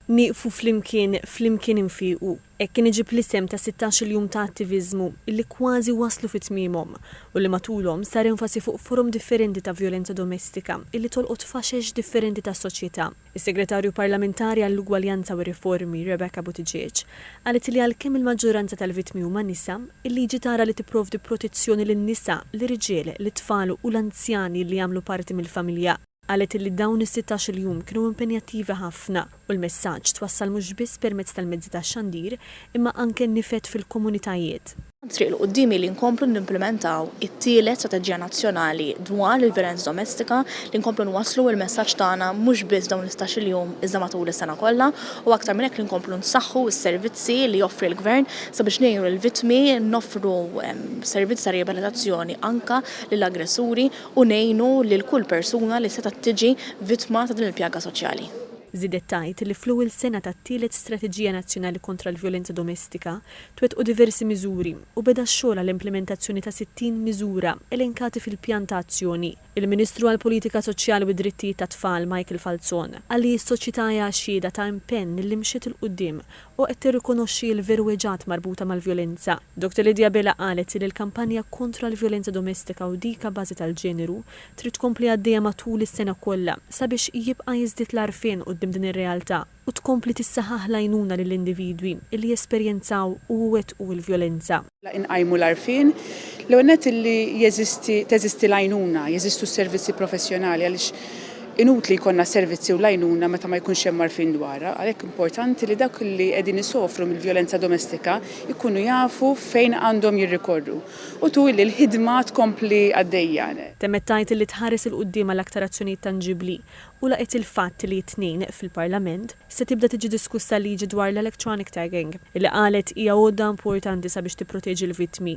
Nieqfu flimkien, flimkien infiequ, hekk kien iġib l-isem ta' sittax-il jum ta' attiviżmu li kważi waslu fi tmiemhom u li matulhom sar enfasi fuq forom differenti ta' vjolenza domestika li tolqot faxex differenti tas-soċjetà. Is-Segretarju Parlamentari għall-Ugwaljanza u r-Riformi, Rebecca Buttigieg, qalet li għalkemm il-maġġoranza tal-vittmi huma nisa, il-liġi tara li tipprovdi protezzjoni lin-nisa, lir-riġiel, lit-tfal u l-anzjani li jagħmlu parti mill-familja. Qalet li dawn is-sittax-il jum kienu impenjattivi ħafna u l-messaġġ twassal mhux biss permezz tal-mezzi tax-xandir imma anke nifed fil-komunitajiet. Hemm triq 'l quddiem li nkomplu nimplimentaw it-tielet Strateġija Nazzjonali dwar il-Vjolenza Domestika, li nkomplu nwasslu l-messaġġ tagħna mhux biss f'dawn is-sittax-il jum iżda matul is-sena kollha u aktar minn hekk li nkomplu nsaħħu s-servizzi li joffri l-Gvern sabiex ngħinu lill-vittmi, noffru servizzi ta' riabilitazzjoni anke lill-aggressuri. u ngħinu lil kull persuna li setgħet tiġi vittma ta' din il-pjaga soċjali. Żiedet tgħid li fl-ewwel sena tat-tielet Strateġija Nazzjonali kontra l-Vjolenza Domestika, twettqu diversi miżuri u beda x-xogħol għall-implimentazzjoni ta' 60 miżura elenkati fil-Pjan ta' Azzjoni. Il-Ministru għall-Politika Soċjali u d-Drittijiet tat-Tfal, Michael Falzon, qal li s-soċjetà hija xhieda ta' impenn li mxiet 'il quddiem u qed tirrikonoxxi l-virwiġat marbuta mal-vjolenza. Dottor Lydia Bila qalet li l-kampanja kontra l-vjolenza domestika u dik abbażi tal-ġeneru trid tkompli għaddejja matul is-sena kollha sabiex jibqa' jiżdied l-għarfien quddiem din ir-realtà u tkompli tissaħaħ l-għajnuna lill-individwi li jesperjenzaw u jwettqu l-vjolenza. inqajmu l-għarfien, l-ewwel nett illi jeżisti, teżisti l-għajnuna, jeżistu s-servizzi professjonali għaliex inutli jkollna servizzi u l-għajnuna meta ma jkunx hemm għarfien dwarha, għalhekk importanti li dawk li qegħdin isofru mill-vjolenza domestika jkunu jafu fejn għandhom jirrikorru. U tu illi l-ħidma tkompli għaddejja. Temmet tgħid illi tħares 'il quddiem għal aktar azzjonijiet tanġibbli u laqgħet il-fatt li t-Tnejn, fil-Parlament, se tibda tiġi diskussa l-liġi dwar l-electronic tagging, li qalet hija għodda importanti sabiex tipproteġi l-vittmi.